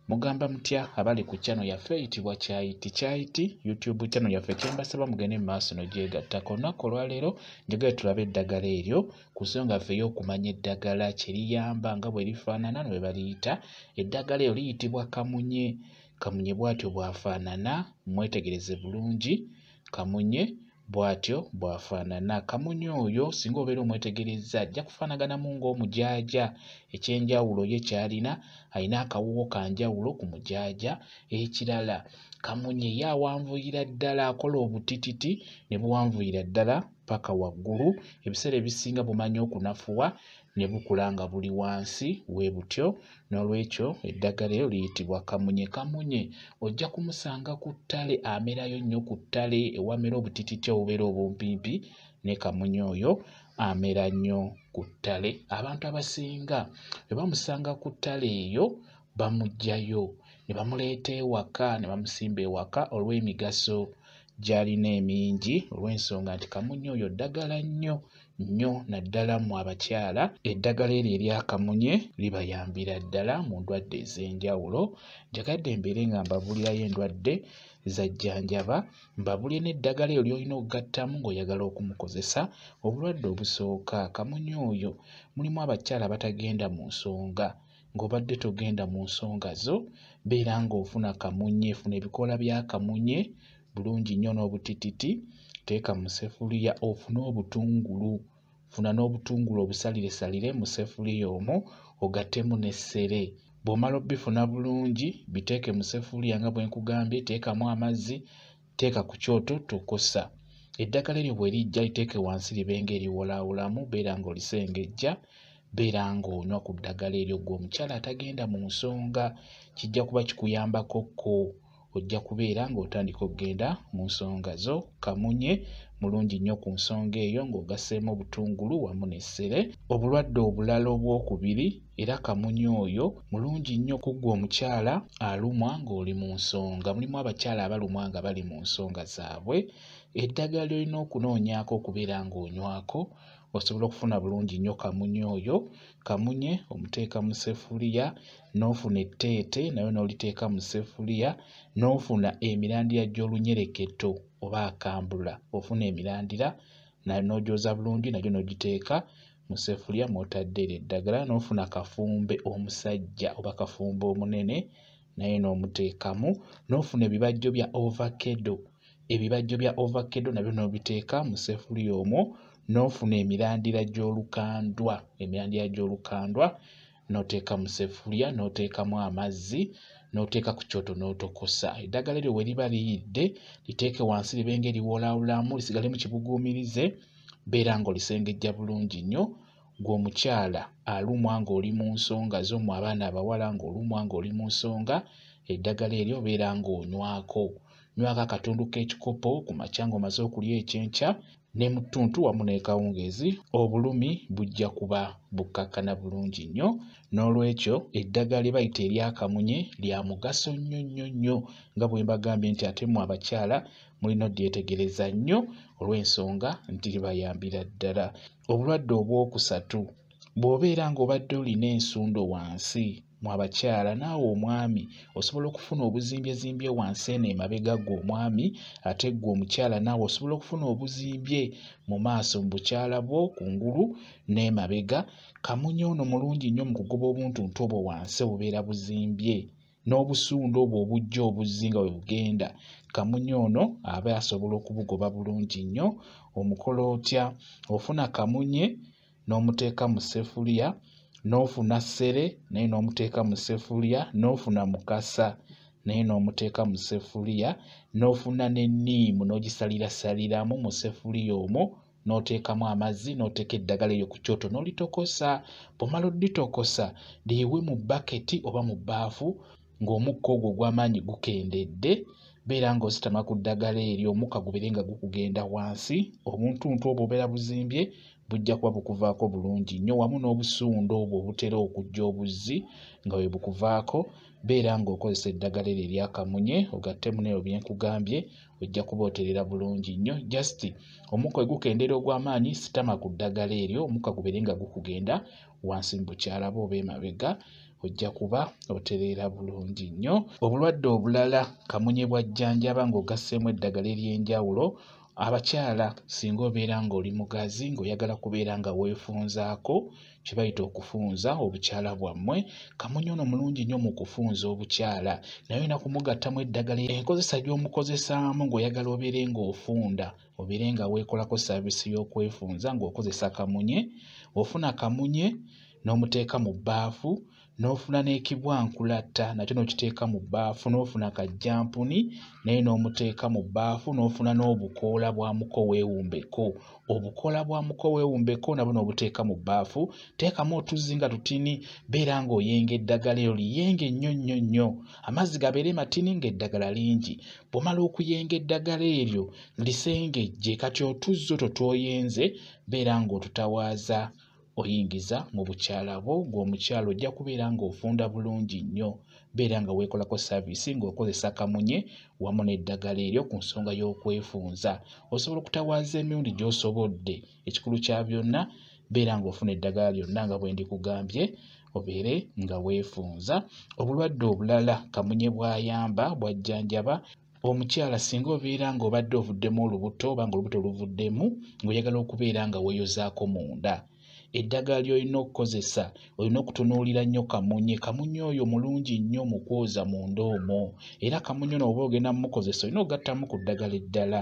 mugamba mutya abali ku channel yaffe eyitibwa kyayiti kyayiti youtube channel yaffe kyembasaba mugende mu maaso nogyegattako olunaku olwaleero njagala tulabe eddagala eryo ku nsonga ffe ey'okumanya eddagala kyeriyamba nga bwe lifaanana nwe baliyita eddagala eryo liyitibwa kamunye kamunye bwatyo bwafaanana mwetegereze bulungi kamunye bw'atyo bw'afaanana. Kamunye oyo singa obeera omwetegerezza ajja kufaanaganamu ng'omujaaja. Eky'enjawulo ye ky'alina, alina akawuwo ka njawulo ku mujaaja. Ekirala kamunye ye awanvuyira ddala, akola obutititi ne buwanvuyira ddala paka waggulu. Ebiseera ebisinga bumanya okunafuwa ne bukula nga buli wansi we butyo n'olwekyo eddagala eryo liyitibwa kamunye kamunye ojja kumusanga ku ttale amerayo nnyo ku ttale ewamera obutititi obubeera obumpimpi ne kamunye oyo amera nnyo ku ttale abantu abasinga bwe bamusanga ku ttale eyo bamuggyayo ne bamuleeta ewaka ne bamusimba ewaka olw'emigaso gy'alina emingi olw'ensonga nti kamunye oyo ddagala nnyo nnyo naddala mu abakyala eddagala eryo eryakamunye libayambira ddala mu ndwadde ez'enjawulo njagadde mbeere nga mbabulirayo endwadde zajjanjaba mbabulire n'eddagala eryo lyolina okugattamu ng'oyagala okumukozesa obulwadde obusooka kamunye oyo mulimu abakyala abatagenda mu nsonga ng'obadde togenda mu nsonga zo beera ng'ofuna kamunye funa ebikoola bya kamunye bulungi nnyo n'obutititi teeka mu sefuliya ofune obutungulu funa n'obutungulu obusaliresalire mu sefuliya omwo ogattemu n'essere bw'omala obifuna bulungi biteeke mu sefuliya nga bwe nkugambye teekamu amazzi teeka ku kyoto tokosa eddagala eryo bwe lijja liteeke wansi libe nga eriwolaawolamu beera ng'olisengejja beera ng'onywa ku ddagala eryo gwe omukyala atagenda mu nsonga kijja kuba kikuyambako ko ojja kubeera ng'otandika okugenda mu nsonga zo kamunye mulungi nnyo ku nsonga eyo ng'ogaseemu obutungulu wamu n'essere obulwadde obulala obwokubiri era kamunye oyo mulungi nnyo kuggwa omukyala alumwa ng'oli mu nsonga mulimu abakyala abalumwa nga bali mu nsonga zaabwe eddagala lyolina okunoonyaako okubeera ng'onywako osobola okufuna bulungi nnyo kamunye oyo kamunye omuteeka mu sefuliya n'ofuna etteete nayo n'oliteeka mu sefuliya n'ofuna emirandira gy'olunyereketo oba akambula ofuna emirandira n'ogyoza bulungi nagyo n'ogiteeka mu sefuliya mw'otadde eryo eddagala n'ofuna kafumbe omusajja oba kafumbe omunene naye n'omuteekamu n'ofuna ebibajjo bya ovakedo ebibajjo bya ovakkedo nabyo n'obiteeka mu sefuliya omwo n'ofuna emirandira gy'olukandwa emirandira gy'olukandwa n'oteeka mu sefuliya n'oteekamu amazzi n'oteeka ku kyoto n'otokosa eddagala eryo we liba liyidde liteeke wansi libe nga eriwoolaawulaamu lisigale mu kibuguumirize beera ng'olisengejja bulungi nnyo gwe omukyala alumwa ng'oli mu nsonga zo mu abaana abawala ng'olumwa ng'oli mu nsonga eddagala eryo obeera ng'onywako Nywako akatundu k'ekikopo ku makya ng'omaze okulya ekyenkya ne mu ttuntu wamu n'ekawungeezi obulumi bujja kuba bukkakkana bulungi nnyo. N'olwekyo eddagala lye bayita eryakamunye lya mugaso nnyo nnyo nnyo nga bwe mbagambye nti ate mmwe abakyala mulina odyetegereza nnyo olw'ensonga nti libayambira ddala. Obulwadde obwokusatu bw'obeera ng'obadde olina ensundo wansi mu abakyala naawe omwami osobola okufuna obuzimbyezimby wansi eno emabega gwe omwami ate ggwe omukyala naawe osobola okufuna obuzimbye mu maaso mu bukyala bwo ku ngulu n'emabega kamunye ono mulungi nnyo mu kugoba obuntuntu obwo wansi obubeera buzimbye n'obusundo obwo obujja obuzzi nga bwe bugenda kamunye ono aba asobola okubugoba bulungi nnyo omukola otya ofuna kamunye n'omuteeka mu ssefuliya n'ofuna ssere naye n'omuteeka mu ssefuliya n'ofuna mukasa naye n'omuteeka mu ssefuliya n'ofuna n'enniimu n'ogisalirasaliramu mu ssefuliya omwo n'oteekamu amazzi n'oteeka eddagala eryo ku kyoto n'olitokosa bw'omala odditokosa liyiwe mu baketi oba mu bbaafu ng'omukka ogwo ogw'amaanyi gukendedde beera ng'ositama ku ddagala eryo omukka gubeere nga gukugenda wansi obuntuntu obwo obeera buzimbye bujja kuba bukuvaako bulungi nnyo wamu n'obusuundo obwo obutera okujja obuzzi nga bwe bukuvaako beera ng'okozesa eddagala eryo eryakamunye ogattemu neyo bye nkugambye ojja kuba oterera bulungi nnyo just omukka we gukendeera ogw'amaanyi sitama ku ddagala eryo omukka gubeere nga gukugenda wansi mu bukyala bwe oba emabega ojja kuba otereera bulungi nnyo obulwadde obulala kamunye bwajjanjaba ng'ogasseemu eddagala ery'enjawulo abakyala singa obeera ng'oli mugazi ng'oyagala kubeera nga weefunzaako kye bayita okufunza obukyala bwammwe kamunye ono mulungi nnyo mu kufunza obukyala naye olina kumugattamu eddagala enkozesa gy'omukozesaamu ng'oyagala obeere ng'ofunda obeere nga weekolako saavisi y'okwefunza ng'okozesa kamunye ofuna kamunye n'omuteeka mu bbaafu n'ofuna n'ekibwankulatta nakyo n'okiteeka mu bbaafu n'ofuna kajjampuni naye n'omuteeka mu bbaafu n'ofuna n'obukoola bwa muko weewumbeko obukoola bwa muko weewumbeko nabwo n'obuteeka mu bbaafu teekamu otuzzi nga tutini beera ng'oyenga eddagala eryo liyenge nnyo nnyo nnyo amazzi gabeere matini ng'eddagala lingi bw'omala okuyenga eddagala eryo lisengejje kati otuzzi otwo twoyenze beera ng'otutawaaza oyingiza mu bukyala bwo ng'omukyala ojja kubeera ng'ofunda bulungi nnyo beera nga weekolako saaviisi ng'okozesa kamunye wamu n'eddagala eryo ku nsonga y'okwefunza osobola okutawaaza emirundi gy'osobodde ekikulu kya byonna beera ng'ofuna eddagala lyonna nga bwe ndikugambye obeere nga weefunza obulwadde obulala kamunye bw'ayamba bw'ajjanjaba omukyala singa obeera nga obadde ovuddemu olubuto oba nga olubuto luvuddemu ngaoyagala okubeera nga weyozaako munda eddagala lyolina okukozesa olina okutunuulira nnyo kamunye kamunye oyo mulungi nnyo mu kwoza munda omwo era kamunye ono oba ogenda mumukozesa olina okugattamu ku ddagala eddala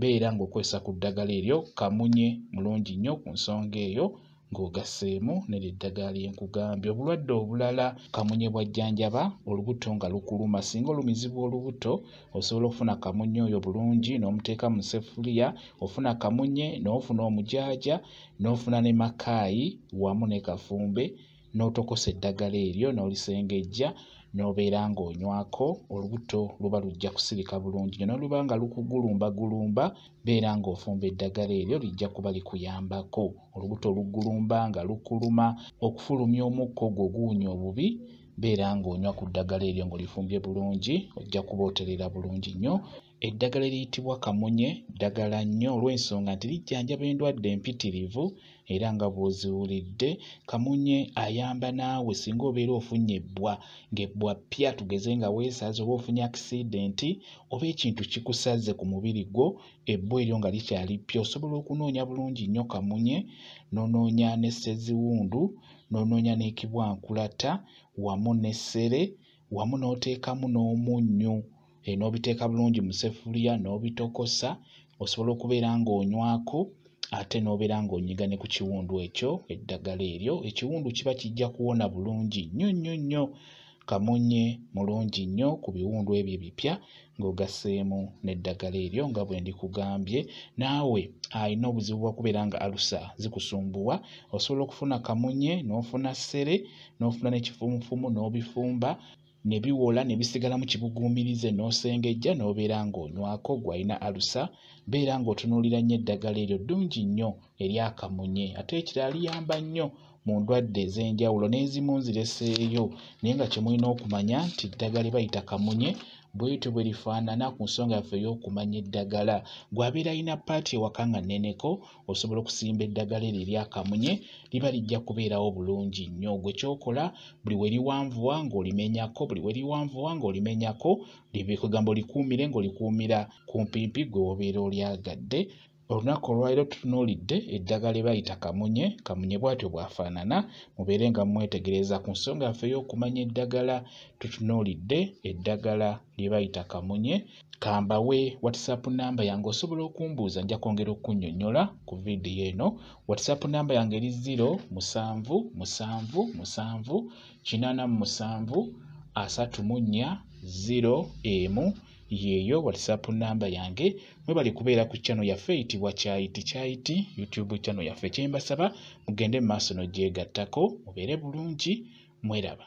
beera ng'okozesa ku ddagala eryo kamunye mulungi nnyo ku nsonga eyo ng'ogasseemu neryo eddagala lye nkugambye obulwadde obulala kamunye bw'ajjanjaba olubuto nga lukuluma singa olumizibwa olubuto osobola okufuna kamunye oyo bulungi n'omuteeka mu sefuliya ofuna kamunye n'ofuna omujaaja n'ofuna ne makaayi wamu ne kafumbe n'otokosa eddagala eryo n'olisengejja n'obeera ng'onywako olubuto luba lujja kusirika bulungi nyo noluba nga lukugulumbagulumba beera ng'ofumba eddagala eryo lijja kuba likuyambako olubuto lugulumba nga lukuluma okufulumya omukka ogwo guwunya obubi beera ng'onywa ku ddagala eryo ng'olifumbye bulungi ojja kuba oterera bulungi nnyo Eddagala eriyitibwa kamunye ddagala nnyo olw'ensonga nti lijjanjaba endwadde mpitirivu era nga bw'oziwulidde kamunye ayamba naawe singa obeera ofunye ebbwa ng'ebbwa ppya tugeze nga weesaze oba ofunye akisidenti oba ekintu kikusaze ku mubiri gwo ebbwa eryo nga likyali ppya osobola okunoonya bulungi nnyo kamunye n'onoonya ne sseziwundu n'onoonya n'ekibwankulata wamu n'essere wamu n'oteekamu n'omunnyu eh, n'obiteeka bulungi mu sefuliya n'obitokosa osobola okubeera ng'onywako ate n'obeera ng'onyiga ne ku kiwundu ekyo eddagala eryo ekiwundu kiba kijja kuwona bulungi nnyo nnyo nnyo kamunye mulungi nnyo ku biwundu ebyo ebipya ng'ogasseemu n'eddagala eryo nga bwe ndikugambye naawe alina obuzibu bwa kubeera nga alusa zikusumbuwa osobola okufuna kamunye n'ofuna ssere n'ofuna n'ekifumufumu n'obifumba ne biwola ne bisigalamu kibuguumirize n'osengejja n'obeera ng'onywako gw'alina alusa beera ng'otunuulira nnyo eddagala eryo ddungi nnyo eryakamunye ate ekirala liyamba nnyo mu ndwadde ez'enjawulo n'ezimu nzireseeyo naye nga kye mulina okumanya nti eddagala lye bayita kamunye bwetyo bwe lifaanana ku nsonga yaffe ey'okumanya eddagala gw'abeera alina paati ewaka nga nneneko osobola okusimba eddagala eryo eryakamunye liba lijja kubeerawo bulungi nnyo gwe kyokola buli we liwanvuwa ng'olimenyako buli we liwanvuwa ng'olimenyako kugamba olikuumire ng'olikuumira kumpimpi gwe wobeera olyagadde olunaku olwaliro tutunuulidde eddagala ebayita kamunye kamunye bwatyo bwafaanana mubeere nga mumwetegereza ku nsonga yaffe y'okumanya eddagala tutunuulidde eddagala lyebayita kamunye kambawe whatsapp namba yange osobola okumbuuza nja kwongera okunyonyola ku vidiyo eno whatsapp namba yange eri 0 musanvu musanvu musanvu kinana mu musanvu asatu mu nnya 0 emu yeeyo whatsapp namba yange mwebali kubeera ku kyano yaffe eyitibwa kyayiti kyayiti youtube kyano yaffe kyembasaba mugende mu maaso nogyegattako mubeere bulungi mweraba